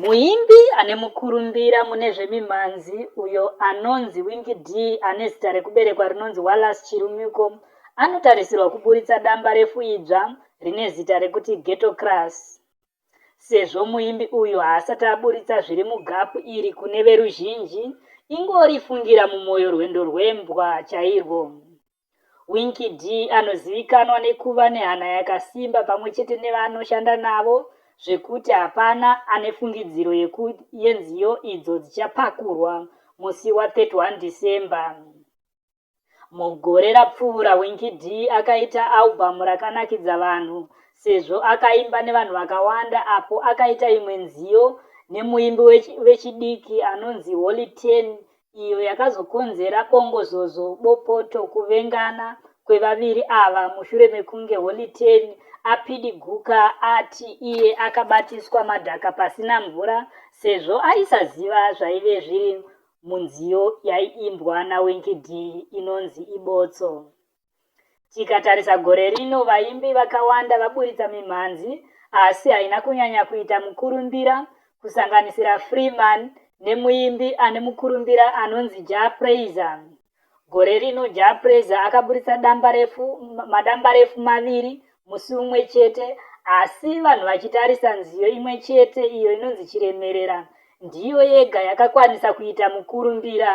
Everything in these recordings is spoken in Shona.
Muimbi ane mukurumbira mune zvemimhanzi uyo anonzi Winky Dee ane zita rekuberekwa rinonzi Wallace Chirumiko anotarisirwa kuburitsa dambarefu idzva rine zita rekuti Ghetto Crush. Sezvo muimbi uyu haasati aburitsa zviri mugapu iri kune veruzhinji, ingori fungira mumoyo rwendo rwembwa chairwo. Winky Dee anozivikanwa nekuva nehana yakasimba pamwe chete nevaanoshanda navo zvekuti hapana ane fungidziro yekut yenziyo idzo dzichapakurwa musi wa 31 December. Mugore rapfuura Winky Dee akaita album rakanakidza vanhu sezvo akaimba nevanhu vakawanda apo akaita imwe nziyo nemuimbi wech vechidiki anonzi Holly Ten iyo yakazokonzera bongozozo, bopoto, kuvengana kwevaviri ava mushure mekunge Holy Ten apidiguka ati iye akabatiswa madhaka pasina mvura sezvo aisaziva zvaive zviri munziyo yaiimbwa naWinky Dee inonzi Ibotso. Tikatarisa gore rino vaimbi vakawanda vaburitsa mimhanzi asi haina kunyanya kuita mukurumbira kusanganisira Freeman nemuimbi ane mukurumbira anonzi Jah Prayzah. Gore rino Jah Prayzah akaburitsa dambarefu, madambarefu maviri musi umwe chete asi vanhu vachitarisa nziyo imwe chete iyo inonzi Chiremerera ndiyo yega yakakwanisa kuita mukurumbira.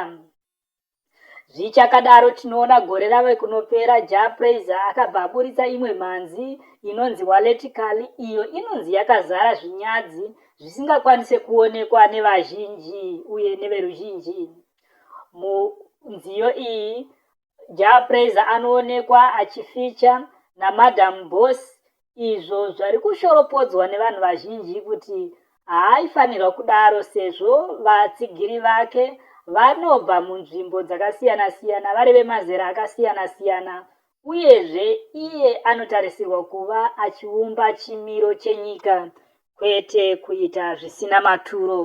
Zvichakadaro tinoona gore rave kunopera Jah Prayzah akabva aburitsa imwe mhanzi inonzi Waleti Kali iyo inonzi yakazara zvinyadzi zvisingakwanise kuonekwa nevazhinji uye neveruzhinji. Munziyo iyi Jah Prayzah anoonekwa achificha naMadam Boss izvo zvari kushoropodzwa nevanhu vazhinji kuti haaifanirwa kudaro sezvo vatsigiri vake vanobva munzvimbo dzakasiyana-siyana vari vemazera akasiyana-siyana uyezve iye anotarisirwa kuva achiumba chimiro chenyika kwete kuita zvisina maturo.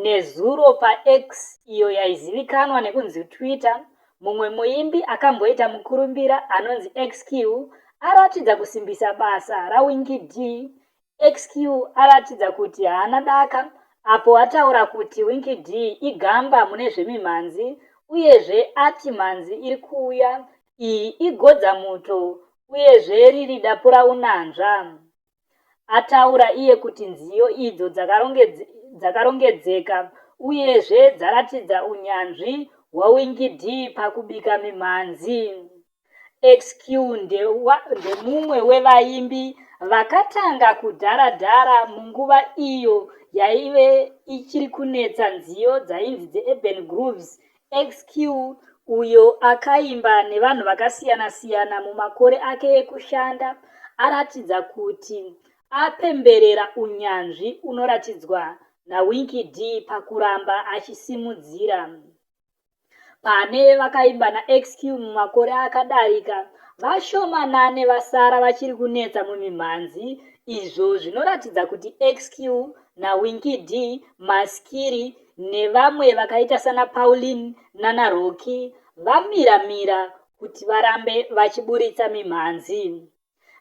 Nezuro paX, iyo yaizivikanwa nekunzi Twitter, mumwe muimbi akamboita mukurumbira anonzi Xq aratidza kusimbisa basa raWinky Dee. Xq aratidza kuti haana daka apo ataura kuti Winky Dee igamba mune zvemimhanzi uyezve ati mhanzi iri kuuya iyi igodzamuto uyezve riri dapuraunanzva. ataura iye kuti nziyo idzo dzakarongedzeka uyezve dzaratidza unyanzvi hwaWingidi pakubika mimhanzi. Xq ndemumwe wevaimbi vakatanga kudhara-dhara munguva iyo yaive ichiri kunetsa nziyo dzainzi dzeUrban Grooves Xq uyo akaimba nevanhu vakasiyana siyana mumakore ake ekushanda aratidza kuti apemberera unyanzvi unoratidzwa naWinky Dee pakuramba achisimudzira. Pane vakaimba naXq mumakore akadarika, vashomanane vasara vachiri kunetsa mumimhanzi izvo zvinoratidza kuti Xq naWinky Dee maskiri nevamwe vakaita sana Pauline nana Roki vamira mira kuti varambe vachiburitsa mimhanzi.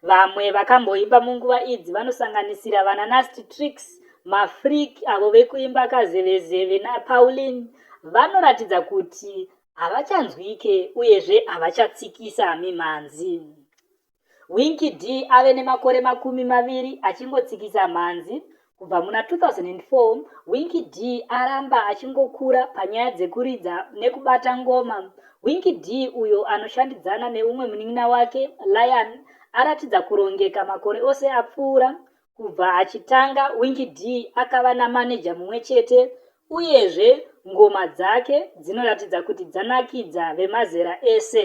Vamwe vakamboimba munguva idzi vanosanganisira vana Nasty Tricks, Mafreak avo vekuimba kazevezeve naPauline vanoratidza kuti havachanzwike uyezve havachatsikisa mimhanzi. Winky Dee ave nemakore makumi maviri achingotsikisa mhanzi. Kubva muna 2004, Winky Dee aramba achingokura panyaya dzekuridza nekubata ngoma. Winky Dee, uyo anoshandidzana neumwe munin'ina wake, Lyan, aratidza kurongeka makore ose apfuura. Kubva achitanga, Winky Dee akava namaneja mumwe chete, uyezve ngoma dzake dzinoratidza kuti dzanakidza vemazera ese.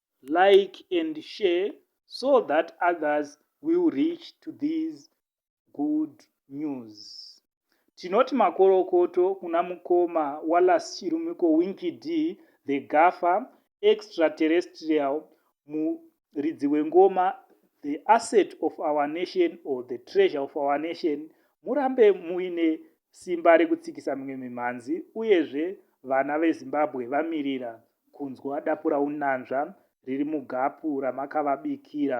like and share so that others will reach to these good news tinoti makorokoto kuna mukoma walas chirumiko winky d the gafa extraterrestrial muridzi wengoma the asset of our nation or the treasure of our nation murambe muine simba rekutsikisa mimwe mimhanzi uyezve vana vezimbabwe vamirira kunzwa dapuraunanzva riri mugapu ramakavabikira.